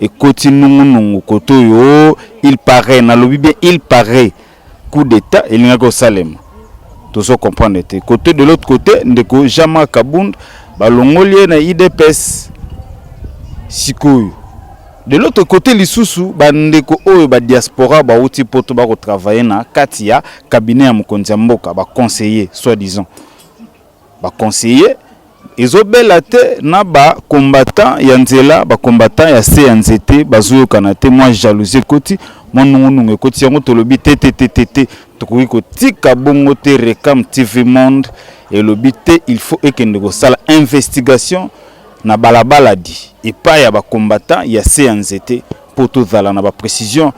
ekoti nungunungu kote oyo il parait nalobi bien il parait coup d'état elingaki kosalema tozo comprendre te kote de l'autre côté ndeko jama kabund balongoli ye na idps sikoyo de l'autre côté lisusu bandeko oyo badiaspora bauti poto bakotravaille na kati ya kabinet ya mokonzi ya mboka baconseiller soit disant ba conseillers ezo bela te na ba combattants ya nzela ba combattants ya se ya nzete bazo yokana te mwa jalousie ekoti mwa nungu nungu ekoti yango tolobi te te te te te tokoki kotika bongo te Recam TV Monde elobi te il faut ekende kosala investigation na balabala di epai ya ba combattants ya se ya nzete mpo tozala na ba precision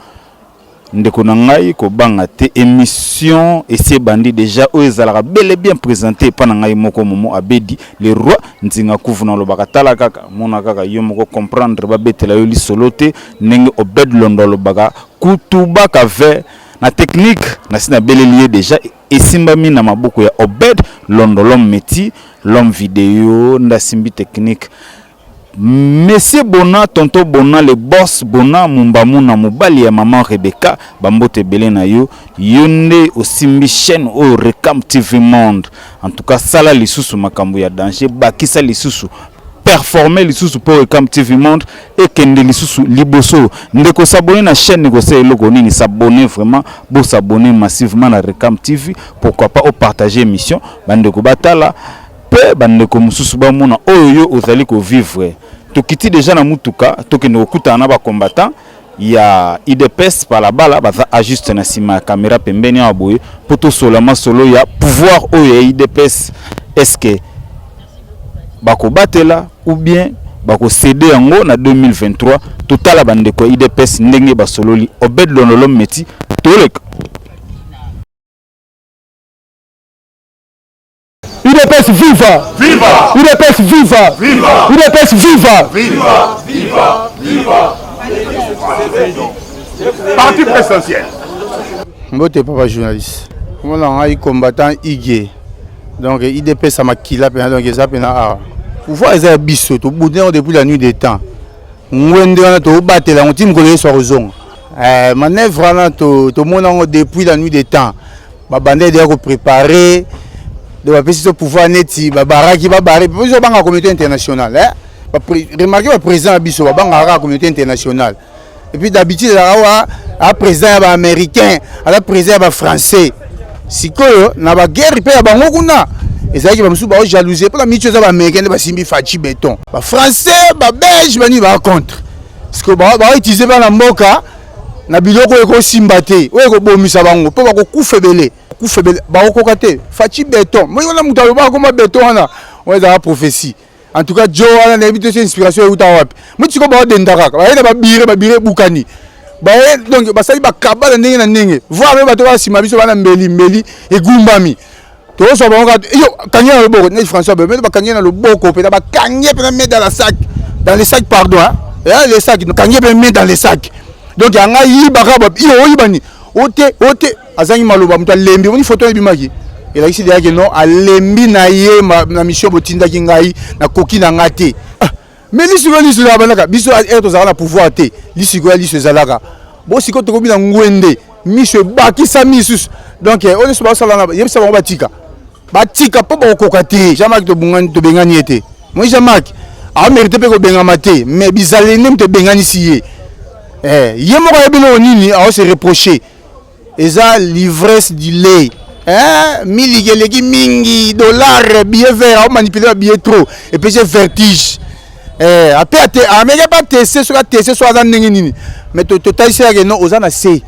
ndeko na ngai kobanga te émission esi ebandi déjà oyo ezalaka bel et bien présenté epai na ngai moko momo abedi le roi nzinga kufu na olobaka tala kaka mona kaka yo moko comprendre babetela yo lisolo te ndenge obed londo alobaka kutubaka ve na technique nasi nabeleli ye déjà esimbami na maboko ya obed londo l'homme métier l'homme video nde asimbi technique Monsieur Bona, tonton Bona, le boss Bona, Mumbamuna, mobali ya maman Rebecca, ba mbote ebele na yo. Yo nde osimbi chaîne oyo Recam TV Monde. En tout cas, sala lisusu makambo ya danger, bakisa lisusu performer lisusu pour Recam TV Monde et kende lisusu liboso. Ndeko s'abonner na chaîne ko sala eloko nini s'abonner vraiment, bo s'abonner massivement na Recam TV, pourquoi pas au partager émission, bande ko batala pe ba ndeko mususu ba mona oyo yo ozali ko vivre tokiti deja na mutuka tokende kokutana na ba combattant ya idps balabala baza a juste na sima ya camera pembeni awa boye po tosola masolo ya pouvoir oyo ya idps eske bakobatela ou bien bakosede yango na 2023 totala ba ndeko ya idps ndenge basololi obed londolom meti toleka Udps viva! Viva! Udps viva! Viva! Udps viva! Viva! Viva! Viva! Parti présidentiel. Mbote papa journaliste. Comment on a combattant Igue. Donc IDP ça m'a killa pena donc eza pena a. Pouvoir eza biso to boudin depuis la nuit des temps. Ngwende wana to batela ngo tim ko yeso kozonga. Eh, manœuvre wana tomona yango depuis la nuit des temps babanda deya koprépare donc bapesi to pouvoir neti babaraki babare biso babanga communauté internationale eh? remarke baprésident ya biso babangaka kaka communauté internationale epuis d'habitude ezalaka oyo aprésident ya baaméricain aza président ya bafrançais sikoyo na baguerre mpe ya bango kuna ezalaki bamosusu bao jalouse mpo na mitu eza baaméricain nde basimbi faci béton bafrançais babelge banini baa contre sikoyo baoutilize bana mboka na biloko oyo ekosimba te oyo ekobomisa bango mpo bakokufa ebele kufa ebele bakokoka te faci beton moi wana moto alobaka koma beton wana oyo ezalaka prophetie en tout cas jo wana nayebi te so inspiration euta wapi moi sikoyo baodenda kaka baye na babire babire ebukani baye donc basali bakabala ndenge na ndenge voir mpe bato bana nsima biso bana mbeli mbeli egumbami tozwa bango kaka yo kangi na loboko neti françois bebe mete bakangi na loboko mpenza bakangi ye mpenza mede la sac dans le sac pardon ya le sac kangi ye mpe mede dans le sac donc yanga yibaka yo oyiba nini ote ote azangi maloba moto alembi omoni foto oyo ebimaki elakisi deyake no alembi na ye na mission botindaki ngai nakoki na ngai te Mais lisiko ya liso ezalaka biso air tozalaka na pouvoir te lisiko ya liso ezalaka bo siko tokomi na ngwende miso ebakisa misusu donc oyo nyonso basalana yebisa bango batika batika mpo bakokoka te jean mark tobungani tobengani ye te moi jean mark amerite mpe kobengama te mais bizaleli nde moto ebenganisi ye eh, ye moko ayebi eloko nini aose reproche eza livresse du lait eh, miliki eleki mingi dollar billet vert aomanipule ba billet trop epesi vertige eh, ape ameke bateste soki ateste soki aza ndenge nini mais totaliseyake no oza na se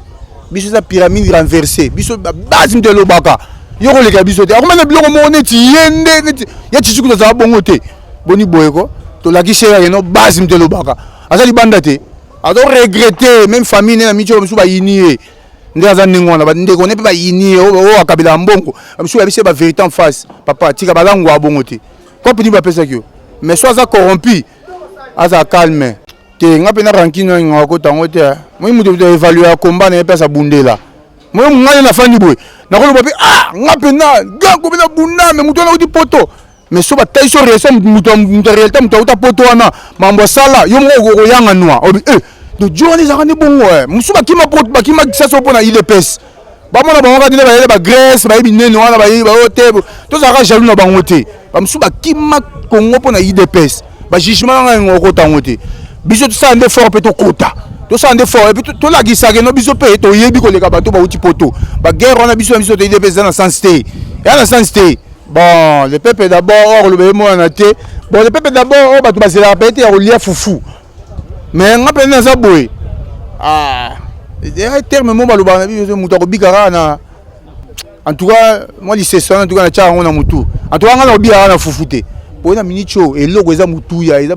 biso eza pyramide renverse biso base nde elobaka yo koleka biso te akomana biloko moko neti ye nde neti ye tisuku tozala bongo te boni boye ko tolakisi yake no base nde elobaka aza libanda te azo regrete meme famille ne na miti oyo mosusu bayini ye nde aza ndenge wana bandeko ne mpe bayini ye oyo akabelaka mbongo mosusu yabisi ye baverité en face papa tika balangwa abongo te cope nini bapesaki yo mais so aza corrompu aza calme te nga mpe na rankine oyo ngaka kota yango te moi moto moto evalue ya combat na ye mpe aza bundela moi ngai nafandi boye nakoloba mpe ah nga mpe na ganko mpe na bunda me moto wana auti poto mais so batai so réaction moto ya réalité moto auta poto wana mambo asala yo moko okoyanga nwa obi e dojo wana ezalaka nde bongo e mosusu bakima bakima kisaso mpo na idps bamona bango kati nde bayele bagrèce bayebi nene wana bayebi bayo te tozalaka jaloux na bango te bamosusu bakima kongo mpo na idps bajugement nanga yango okota yango te biso tosala nde fort mpe tokota tosala nde fort epuis tolakisaka no biso mpe toyebi koleka bato bauti poto baguerre wana biso na biso toyede mpe eza na sens te eza na sens te bon le peuple d'abord oyo akoloba ye mwana na te bon le peuple d'abord oyo bato bazelaka mpe te ya kolia fufu mais nga mpe naza boye ah, terme mo balobaka na biso moto akobika kaka na en tout cas mwa lisese wana en tout cas natyaka yango na motu en tout cas nga nakobika kaka na fufu te mpo na miniti oyo eloko eza motuya eza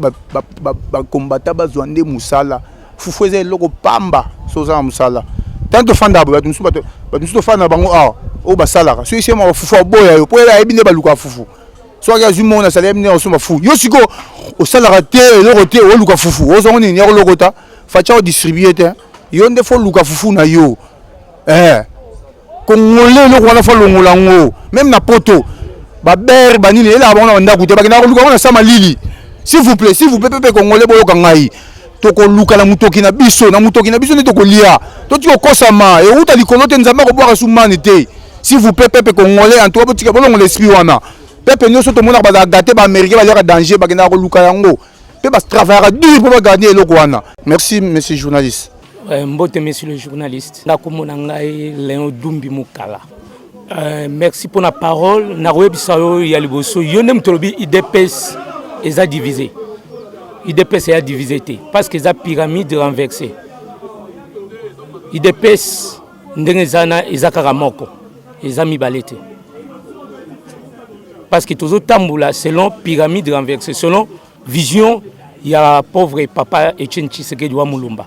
bakombata bazwa nde mosala fufu eza eloko pamba so oza na mosala ntango tofandaka bato mosusu bato mosusu tofanda na bango awa oyo basalaka soki sema bafufu aboya yo mpo ayebi nde balukaka fufu soki azwi moko nasala yebi nde akosomba fufu yo sikoyo osalaka te eloko te oluka fufu ozwango nini yakolokota faca odistribue te yo nde fo oluka fufu na yo eh kongole eloko wana fa longola yango meme na poto babere banini elaka bango na bandako te bakendaka koluka yango na sama lili s'il vous plaît s'il vous plaît pepe kongole boyoka ngai tokoluka na motoki na biso na motoki na biso nde tokolia totika kokosama euta likolo te nzambe akobwaka sumani te s'il vous plaît pepe kongole antuka botika bolongola esprit wana pepe nyonso tomonaka bazala gate baaméricain baliaka danger bakendaka koluka yango mpe batravayaka dur mpo baganie eloko wana merci monsieur journaliste Euh, mbote monsieur le journaliste nakomona ngai leon dumbi mokala euh, merci mpo na parole nakoyebisa yo ya liboso yo nde moto olobi idps eza divise idps eya divise te parce que eza pyramide renversé idps ndenge eza na eza kaka moko eza mibale te parce que tozotambola selon pyramide renversé selon Vision ya pauvre papa Etienne Tshisekedi wa Mulumba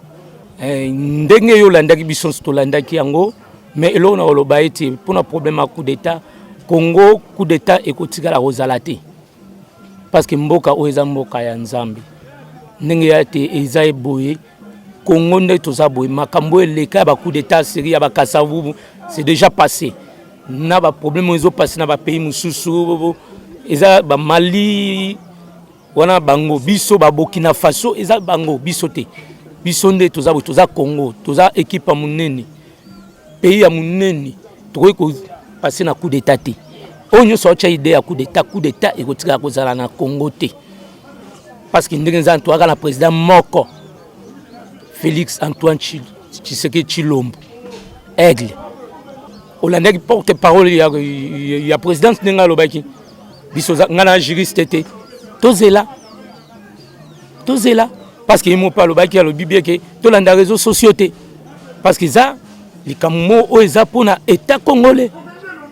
eh, ndenge yo landaki biso tolandaki yango mais eloko na koloba ete mpo na problème ya coup d'état Congo coup d'état ekotikala kozala te parce que mboka oyo eza mboka ya Nzambe ndenge ya te eza eboye Congo nde toza boye makambo eleka ya ba coup d'état seri ya ba kasavubu c'est déjà passé na ba problème ezo passer na ba pays mususu eza ba Mali wana bango biso ba Burkina Faso eza bango biso te biso nde toza bo toza Congo toza équipe munene pays ya munene tokoki ko passer na coup d'état te oyo nyonso aotya idée ya coup d'état coup d'état ekotikala kozala na Congo te parce que ndenge eza toyaka na président moko Felix Antoine Tshisekedi Tshilombo aigle olandaki porte parole ya, ya, ya présidence ndenge alobaki biso ngai na juriste te tozela tozela parce que ye moko mpe alobaki alobi bie ke tolanda réseau sociaux te parce que eza likambo moko oyo eza mpo na état congolais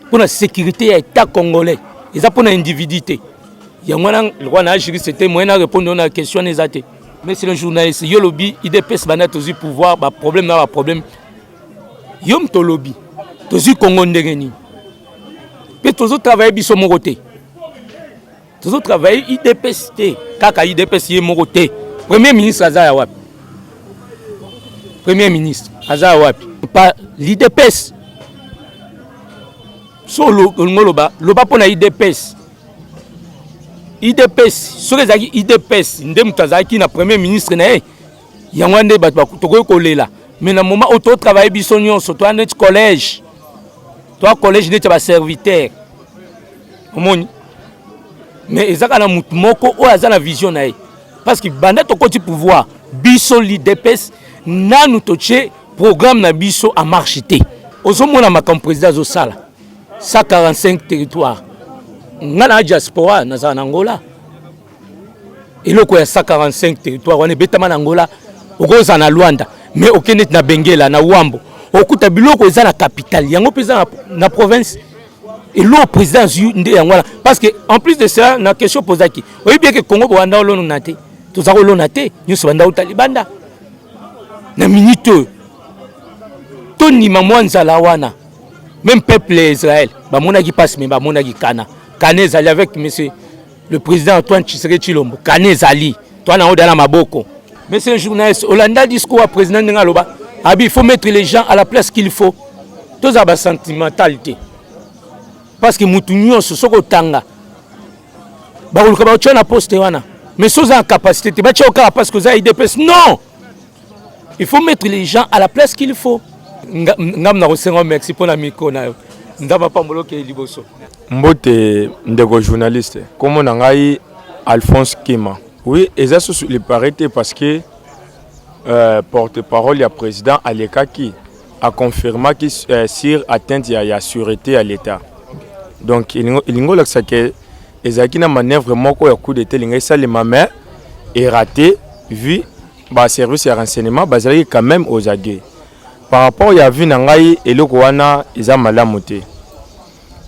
mpo na sécurité ya état congolais eza mpo na individu te yango wana lokola na juriste te moyen na répondre na question eza te Monsieur le journaliste, yo lobi IDPS banda tozui pouvoir ba problème na ba problème. Yo mto lobi tozui Congo ndenge nini? Pe tozo travailler biso moko te. Tozo travailler IDPS te, kaka IDPS ye moko te. Premier ministre aza ya wapi? Premier ministre aza ya wapi? Pa l'IDPS. So lo ngoloba loba pona IDPS. idps soki ezalaki idps nde moto azalaki na premier ministre na ye yango wana nde bato tokoki kolela mais na moment oyo totravaille biso nyonso toya neti collège toya collège neti ya baserviteur omoni mais ezaka na moto moko oyo aza na vision na ye parce que banda tokoti pouvoir biso lidps nanu totie programme na biso en marche te ozomona makambo président azosala 145 territoire nga na diaspora nazala na angola eloko ya 145 territoire wana ebetama na angola okozala na luanda mais okende na bengela na wambo okuta biloko eza na capitale yango mpe eza na province eloko président azwi nde yango wana parce que en plus de cela na question pozaki oyebi yeke congo bowanda olonona te toza kolona te nyonso banda uta libanda na minute oyo tondima mwa nzala wana Même peuple ya Israël bamonaki pasi me bamonaki kana kana ezali avec monsieur le président Antoine Tshisekedi Tshilombo kana ezali toi na oda na maboko monsieur le journaliste olanda discours ya président ndenge aloba abi il faut mettre les gens à la place qu'il faut tozala basentimental te parce que motu nyonso soki otanga bakoluka baotya na poste wana mais soki oza na capacité te batya yo kaka parce que oza idps non Il faut mettre les gens à la place qu'il faut. Ngam na kosenga merci pona micro na yo. Ndaba pambolo ke liboso. Mbote ndeko journaliste. Komo na ngai Alphonse Kima. Oui, eza susu il paraît parce que euh, porte-parole ya président alekaki a confirma ki euh, sur atteinte ya, ya sûreté ya l'État. Donc elingi olakisa ke ezalaki na manœuvre moko ya coup d'État elingi esalema mais erate vu ba service ya renseignement bazalaki quand même aux aguets par rapport ya vie na ngai eloko wana eza malamu te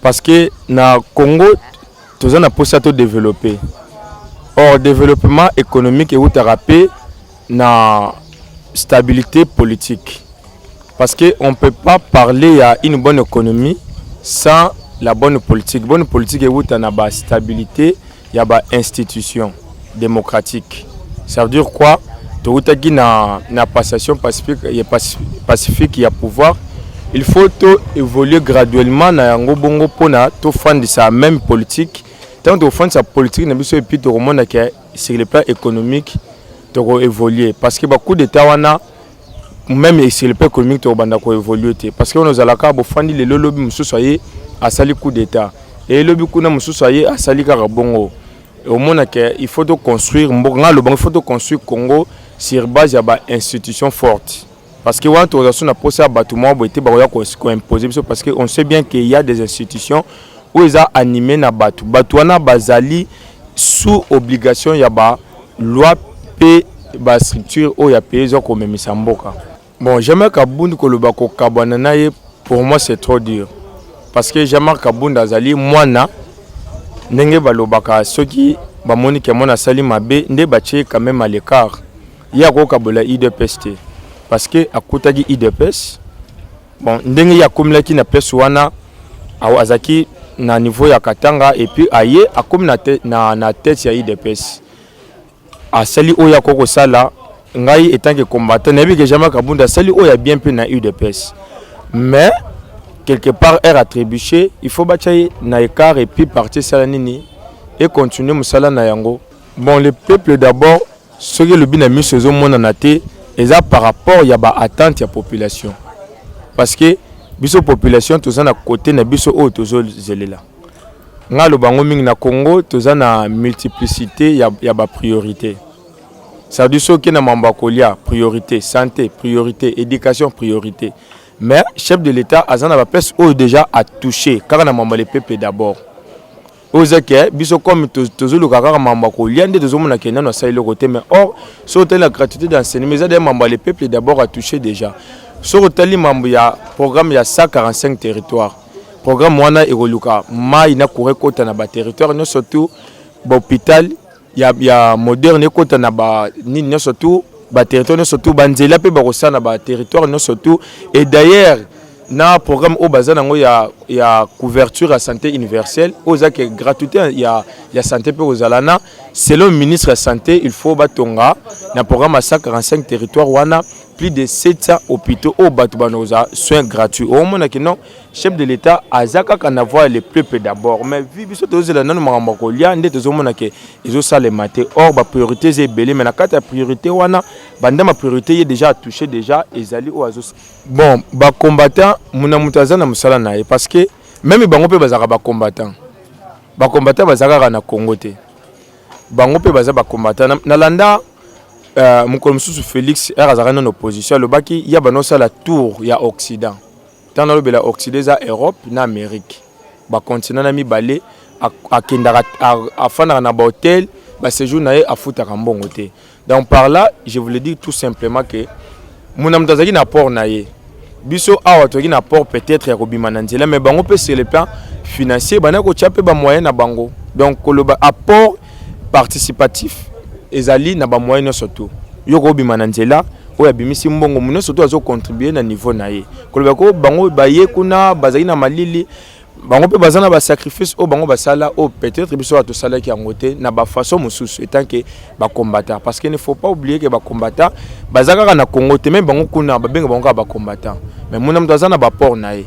parce que na congo toza na mposa to développer or développement économique eutaka mpe na stabilité politique parce que on peut pas parler ya une bonne économie sans la bonne politique bonne politique euta na ba stabilité ya ba institutions democratiques. Ça veut dire quoi? Towutaki na, na passation pacifique, pacifique ya pouvoir il faut to évoluer graduellement na yango bongo mpona tofandisa même politique ntango tokofandisa politique na biso epuis tokomona ke sur le plan économique toko évoluer parce que bacoup d'état wana meme et sur le plan économique tokobanda ko évoluer te parce que on ozalaka bofandi lelo lobi mosusu aye asali coup d'état et lobi kuna mosusu aye asali kaka bongo omona ke il faut toconstruire mboka ngai alobanga il faut toconstruire congo sur base ya ba institution forte parce que wana tokozala so na mposa ya bato moko boye te bakoya koimpose biso parce que on sait bien que ya des institutions oyo eza anime na bato bato wana bazali sous obligation ya ba loi pe ba structure oyo ya pays eza komemisa mboka bon jamais kabund koloba kokabwana na ye pour moi c'est trop dur parce que jamar kabund azali mwana ndenge balobaka soki bamoni ke mwana asali mabe nde batie quand même à l'écart ye akokabola idps te parce que akutaki idps Bon, ndenge ye akomelaki na place wana azalaki na niveau ya Katanga et puis aye akomi na, te, na, na tete ya IDPS asali oyo akoki kosala ngai etant que combattant nayebi ke jamais Kabunda asali oyo ya bien mpe na UDPS mais quelque part aire attribution il faut batya ye na écart et puis parti esala nini et continuer mosala na yango bon le peuple d'abord Soki elobi na miso ezo monana te eza par rapport ya ba attente ya population parce que biso population toza na kote na biso oyo tozozelela ngai aloba yango mingi na congo toza na multiplicité ya, ya bapriorité sadi soki na mambo ya kolia priorité santé priorité éducation priorité mais chef de l'état aza na baplace oyo déjà atouche kaka na mambo ya lepepe d'abord oyo eza ke biso comme tozoluka kaka mambo ya kolia nde tozomona ke nano asali eloko te mais or soki otali na gratuité d'enseignement eza deya mambo ya le peuple d'abord atouche déjà soki otali mambo ya programme ya 145 territoire programme wana ekoluka mai na courant ekota na baterritoire nyonso tout bahôpital ya, ya moderne ekota na ba nini nyonso tu ba territoire nyonso tu banzela mpe bakosala na ba territoire nyonso tu et d'ailleurs na programme oyo baza nango ya, ya couverture ya santé universelle oyo eza ke gratuité ya, ya santé mpe kozala na selon ministre ya santé il faut batonga na programme ya 145 territoire wana plus de 700 hôpitaux oyo bato banokozala soin gratuit omonaki non chef de l'etat aza kaka na voix le peuple d'abord mais vi biso tozela nanu makambo ya kolia nde tozomona ke ezosalema te or bapriorité eza ebele mais na kati ya priorité wana banda mapriorité ye déjà atouche déjà ezali oyo azo bon bacombattant muna moto aza na mosala na ye parce que meme bango mpe bazalaka bacombattant bacombattant baza kaka na congo te bango mpe baza bacombattant nalanda euh, mokolo mosusu félix r azalaka nano opposition alobaki ya banosala tour ya occident Ntango nalobela Occide eza Europe na Amerique, ba continents na mibale. Akendaka afandaka na ba hotel, ba sejour na ye afutaka mbongo te. Donc par là, je voulais dire tout simplement que moto na moto azalaki na apport na ye. Biso awa tozalaki na apport peut-être ya kobima na nzela, mais bango mpe sur le plan financier bana kotya mpe ba moyen na bango. Donc koloba apport participatif ezali na ba moyens nyonso tu yo kobima na nzela oyo abimisi mbongo mu nyonso tu azocontribue na niveau na ye koloba ko bango baye kuna bazali na malili bango mpe baza na basacrifice oyo bango basala oyo peut-être biso oyo tosalaki yango te na bafaçon mosusu etant ke bacombattants parce que ne faut pas oublier ke bacombattants baza kaka na congo te meme bango kuna babenga bango kaka bacombattants mais muna moto aza na baport na ye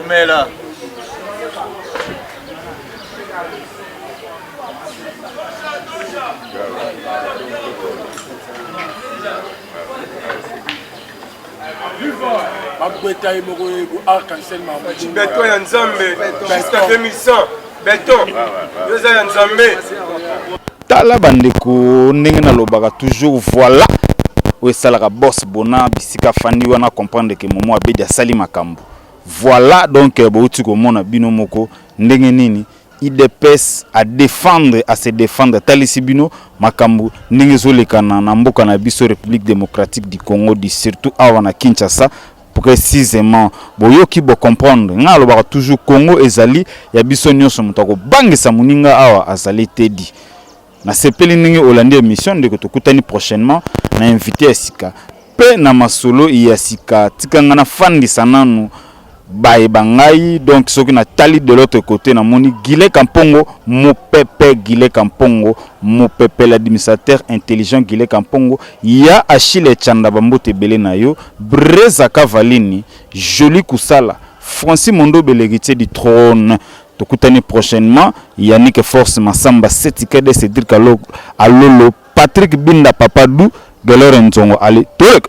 Umela. bakweta ye moko arc-en-ciel beton ya nzambe jusqu'à 2100 beton yo eza ya nzambe tala bandeko ndenge nalobaka toujours voilà oyo esalaka boss bona bisika fandi wana comprendre ke momo abedi asali makambo voilà donc euh, bouti komona bino moko ndenge nini idps à défendre à se défendre atalisi bino makambo ndenge ezolekana na mboka na biso république démocratique du congo du surtout awa na kinshasa Precisement, boyoki bo comprendre. Nga alobaka toujours Congo ezali ya biso nionso moto akobangisa muninga awa azali Teddy. Nasepeli ndenge olandi emission ndeko tokutani prochainement na invité ya sika pe na masolo ya sika tika nga nafandisa nanu baye bangai donc soki natali de l'autre côté namoni Gile Kampongo mopepe Gile Kampongo mopepe l'administrateur intelligent Gile Kampongo Ya Achille Tshanda ba mbote ebele na yo Breza Kavalini jolie kusala Francis Mondobe l'heritier du trone tokutani prochainement Yannick Force Massamba Seti Kede Cedric Alolo Patrick Binda Papa Du Gelore Nzongo allez toleka.